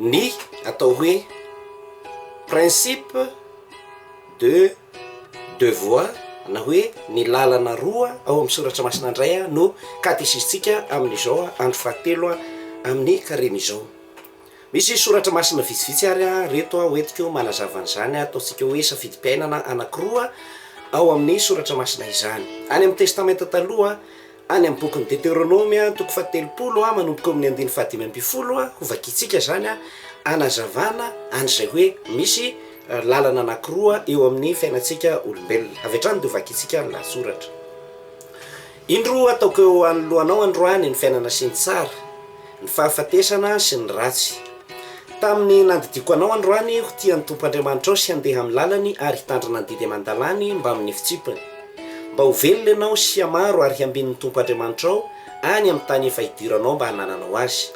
Ny atao hoe principe de deux voies na hoe ny lalana roa ao amin'ny soratra masina indray no katesisintsika amin'izao andro fahatelo amin'ny karemy izao. Misy soratra masina vitsivitsy ary aho reto ho entiko manazava an'izany ataontsika hoe safidim-piainana anankiroa ao amin'ny soratra masina izany. Any amin'ny Testamenta Taloha, any amin'ny bokin'ny Deteronomy, toko fahatelopolo manomboka eo amin'ny andininy fahadimy ambin'ny folo, hovakiantsika izany hanazavana an'izay hoe misy lalana anankiroa eo amin'ny fiainantsika olombelona. Avy hatrany dia hovakiantsika ny lahatsoratra. Indro ataoko eo anoloanao androany ny fiainana sy ny tsara, ny fahafatesana sy ny ratsy. Tamin'ny nandidiako anao androany ho tia ny Tompo Andriamanitrao sy handeha amin'ny lalany ary hitandrina ny didy aman-dalàny mbamin'ny fitsipany, mba ho velona ianao sy hamaro ary hambin'ny Tompo Andriamanitrao any amin'ny tany efa hidiranao mba hanananao azy.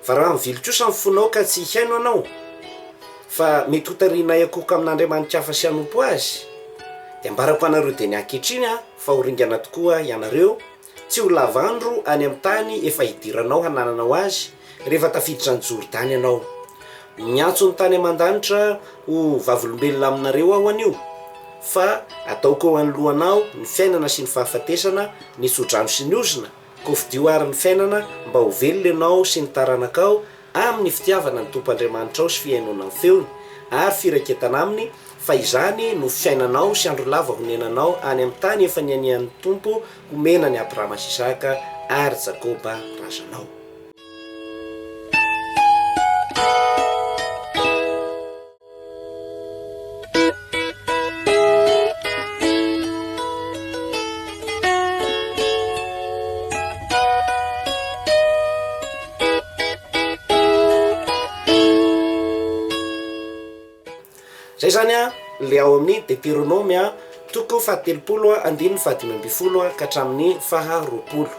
Varaho mivily kosa ny fonao ka tsy hihaino anao, fa mety hotarihina hiakohoka amin'andriamani-kafa sy hanompo azy. Dia ambarako anareo dieny ankehitriny aho. fa ho ringana tokoa ianareo, tsy ho lava andro any amin'ny tany efa hidiranao hanananao azy, rehefa tafiditra an'i Jordany ianao. Miantso ny tany aman-danitra ho vavolombelona aminareo aho anio, fa ataoko eo anoloanao ny fiainana sy ny fahafatesana, ny tso-drano sy ny ozona, Kofidio àry ny fiainana mba ho velona ianao sy ny taranakao amin'ny fitiavana ny Tompo Andriamanitrao sy fihainoana ny feony, ary firaketana Aminy, fa izany no fiainanao sy andro lava honenanao any amin'ny tany efa nianian'ny Tompo homena an'i Abrahama sy Isaka ary Jakoba razanao. Izay izany ilay ao amin'ny Deteronome toko fahatelopolo andininy fahadimy ambin'ny folo ka hatramin'ny faharoapolo.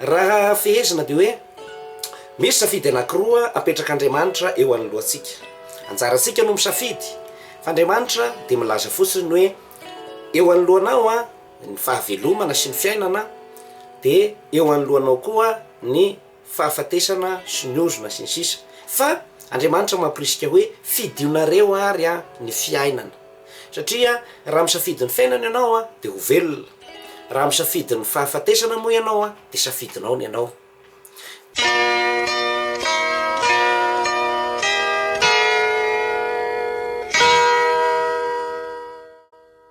Raha fehezina dia hoe. Misy safidy anankiroa apetrak'Andriamanitra eo anoloantsika. Anjarantsika no misafidy, fa Andriamanitra dia milaza fotsiny hoe, eo anoloanao ny fahavelomana sy ny fiainana, dia eo anoloanao koa ny fahafatesana sy ny ozona sy ny sisa Fa Andriamanitra mamporisika hoe, fidionareo ary ny fiainana. Satria raha misafidy ny fiainana ianao dia ho velona. Raha misafidy ny fahafatesana moa ianao, dia safidinao ny anao.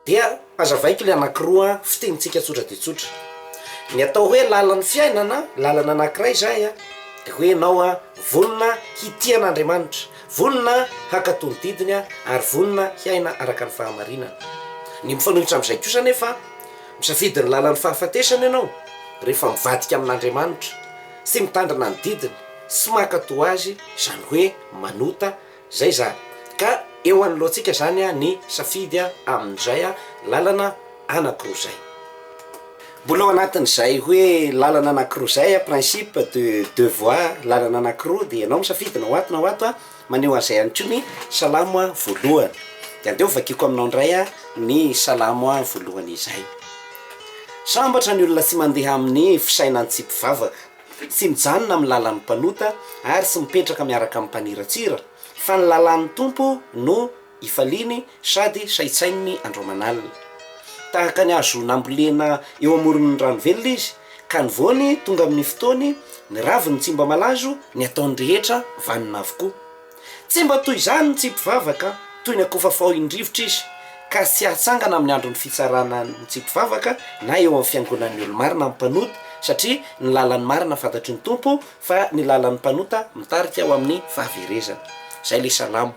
Dia hazavaiko ilay anankiroa fitenintsika tsotra dia tsotra. Ny atao hoe lalan'ny fiainana, lalana anankiray izay a, dia hoe ianao a, vonona hitia an'Andriamanitra, vonona hankatò ny didiny a, ary vonona hiaina araka ny fahamarinana. Ny mifanohitra amin'izay kosa anefa, Misafidy ny lalan'ny fahafatesana ianao rehefa mivadika amin'Andriamanitra sy mitandrina ny didiny sy maka toa azy izany hoe manota izay izany ka eo anoloantsika izany ny safidy amin'izay lalana anakiroa izay. Mbola ao anatin'izay hoe lalana anakiroa izay, principe de deux voies, lalana anakiroa dia ianao misafidy na ho ato na ho ato, Maneho an'izay ihany koa ny Salamo voalohany. Dia andeha hovakiako aminao indray ny Salamo voalohany izay. Sambatra ny olona tsy mandeha amin'ny fisainan'ny tsy mpivavaka, tsy mijanona amin'ny lalan'ny mpanota ary tsy mipetraka miaraka amin'ny mpaniratsira, fa ny lalàn'ny Tompo no. hifaliany sady saintsaininy andro aman'alina. Tahaka ny hazo nambolena eo amoron'ny rano velona izy, ka ny voany tonga amin'ny fotoany, ny raviny tsy mba malazo, ny ataony rehetra vanona avokoa. Tsy mba toy izany ny tsy mpivavaka, toy ny akofa faohin-drivotra izy, ka tsy hatsangana amin'ny andron'ny fitsarana ny tsy mpivavaka na eo amin'ny fiangonan'ny olo-marina ny mpanota, satria ny lalan'ny marina fantatry ny Tompo, fa ny lalan'ny mpanota mitarika ho amin'ny fahaverezana. Izay ilay salamo.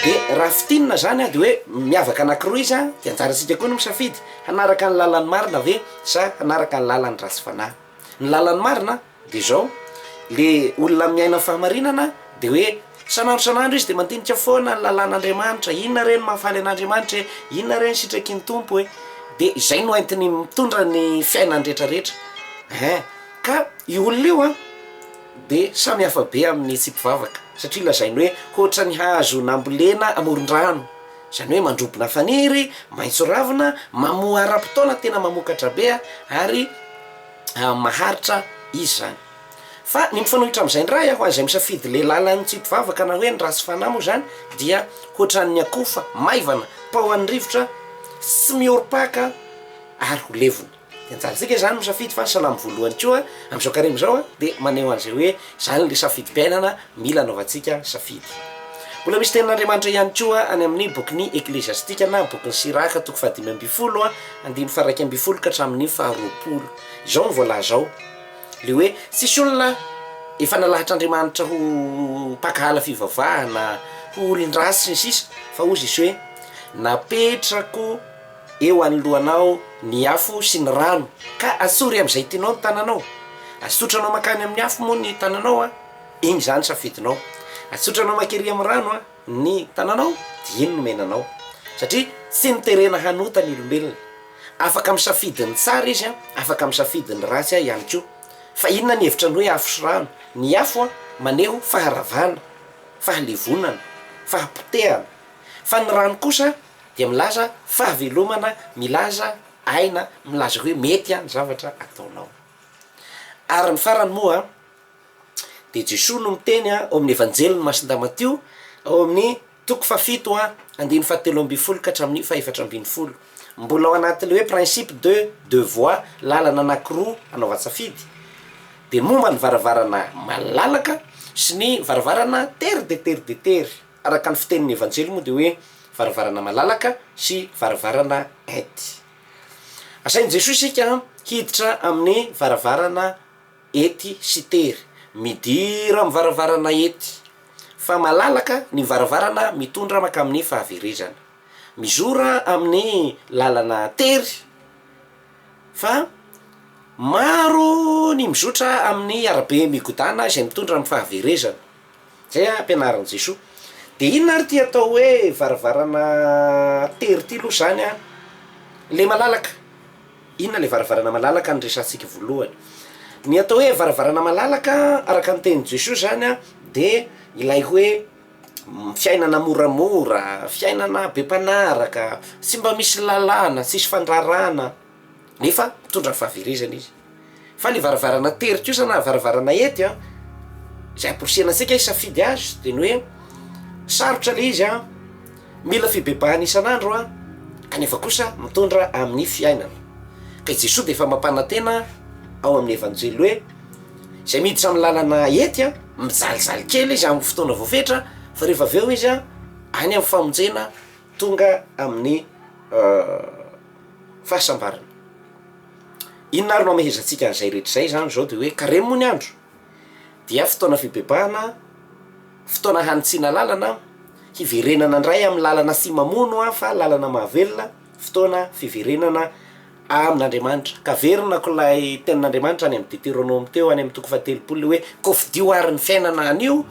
Dia raha fintinina izany an, dia hoe miavaka anankiroa izy an, dia anjarantsika koa ny misafidy, hanaraka ny lalan'ny marina ve sa hanaraka ny lalan'ny ratsy fanahy. Ny lalan'ny marina dia izao, le olona miaina ny fahamarinana dia hoe san'andro san'andro izy dia mandinika foana ny lalan'Andriamanitra, inona re ny mahafaly an'Andriamanitra e, inona re ny sitraky ny Tompo e, dia izay no entiny mitondra ny fiainany rehetra rehetra eh! ka io olona io an dia samy hafa be amin'ny tsy mpivavaka satria lazainy hoe ohatran'ny hazo nambolena amoron-drano. Izany hoe mandrobona faniry, maitso ravina, mamoa ara-potoana tena mamokatra be ary maharitra izy izany. Fa ny mifanohitra amin'izay indray, ho an'izay misafidy ilay lalan'ny tsy mpivavaka na hoe ny ratsy fanahy moa izany dia hoatran'ny akofa maivana paohan'ny rivotra tsy mihorom-paka ary ho levona. Dia anjarantsika izany misafidy fa ny salamo voalohany koa amin'izao karemy izao dia maneho an'izay hoe izany ilay safidim-piainana mila anaovantsika safidy. Mbola misy tenin'Andriamanitra ihany koa any amin'ny bokin'ny Ekleziastika na bokin'i Siraka toko fahadimy ambin'ny folo andininy faharaika ambin'ny folo ka hatramin'ny faharoapolo. Izao no voalaza ao, ilay hoe tsisy olona efa nalahatr'Andriamanitra ho mpankahala fivavahana, ho olon-dratsy sy ny sisa fa hozy izy hoe napetrako Eo anoloanao ny afo sy ny rano, ka asory amin'izay tianao ny tananao. Asotranao mankany amin'ny afo moa ny tananao, iny izany safidinao. Asotranao mankery amin'ny rano ny tananao, dia iny no omena anao. Satria tsy noterena hanota ny olombelona. Afaka misafidy ny tsara izy, afaka misafidy ny ratsy ihany koa. Fa inona ny hevitra ny hoe afo sy rano? Ny afo maneho faharavana, fahalevonana, fahapotehana. Fa ny rano kosa Dia milaza fahavelomana, milaza aina, milaza hoe mety an ny zavatra ataonao. Ary ny farany moa dia Jesoa no miteny ao amin'ny Evanjelin'i Masindamatio ao amin'ny toko fahafito an andininy fahatelo ambin'ny folo ka hatramin'ny fahefatra ambin'ny folo, mbola ao anatin'ilay hoe principe de deux voies, lalana anankiroa hanaovan-tsafidy, dia momba ny varavarana malalaka sy ny varavarana tery dia tery dia tery. Araka ny fitenin'ny Evanjely moa dia hoe varavarana malalaka sy varavarana ety. Asain'i Jesoa isika hiditra amin'ny varavarana ety sy tery. Midira amin'ny varavarana ety, fa malalaka ny varavarana mitondra mankamin'ny fahaverezana. Mizora amin'ny lalana tery, fa maro ny mizotra amin'ny arabe migodàna izay mitondra amin'ny fahaverezana. Izay ampianarin'i Jesoa. Dia inona ary ity atao hoe varavarana tery ity aloha izany an? Ilay malalaka. Inona ilay varavarana malalaka no resahantsika voalohany? Ny atao hoe varavarana malalaka araka ny tenin'i Jesoa izany an dia ilay hoe fiainana moramora, fiainana be mpanaraka, tsy mba misy lalàna, tsisy fandraràna. nefa mitondra fahaverezana izy. Fa ny varavarana tery kosa na varavarana ety a, izay amporisihana antsika hisafidy azy dia ny hoe sarotra ilay izy a, mila fibebahana isan'andro a, kanefa kosa mitondra amin'ny fiainana. Ka i Jesoa dia efa mampanantena ao amin'ny Evanjely hoe izay miditra amin'ny lalana ety a, mijalijaly kely izy amin'ny fotoana voafetra fa rehefa avy eo izy a, any amin'ny famonjena tonga amin'ny fahasambarana. Inona ary no hamehezantsika an'izay rehetra izay izany? Izao dia hoe Karemy moa ny andro dia fotoana fibebahana, fotoana hanitsiana lalana, hiverenana indray amin'ny lalana tsy mamono fa lalana mahavelona, fotoana fiverenana amin'Andriamanitra. Ka averina ko ilay tenin'Andriamanitra any amin'ny Deteronomy teo any amin'ny toko fahatelopolo hoe kofidio ary ny fiainana anio,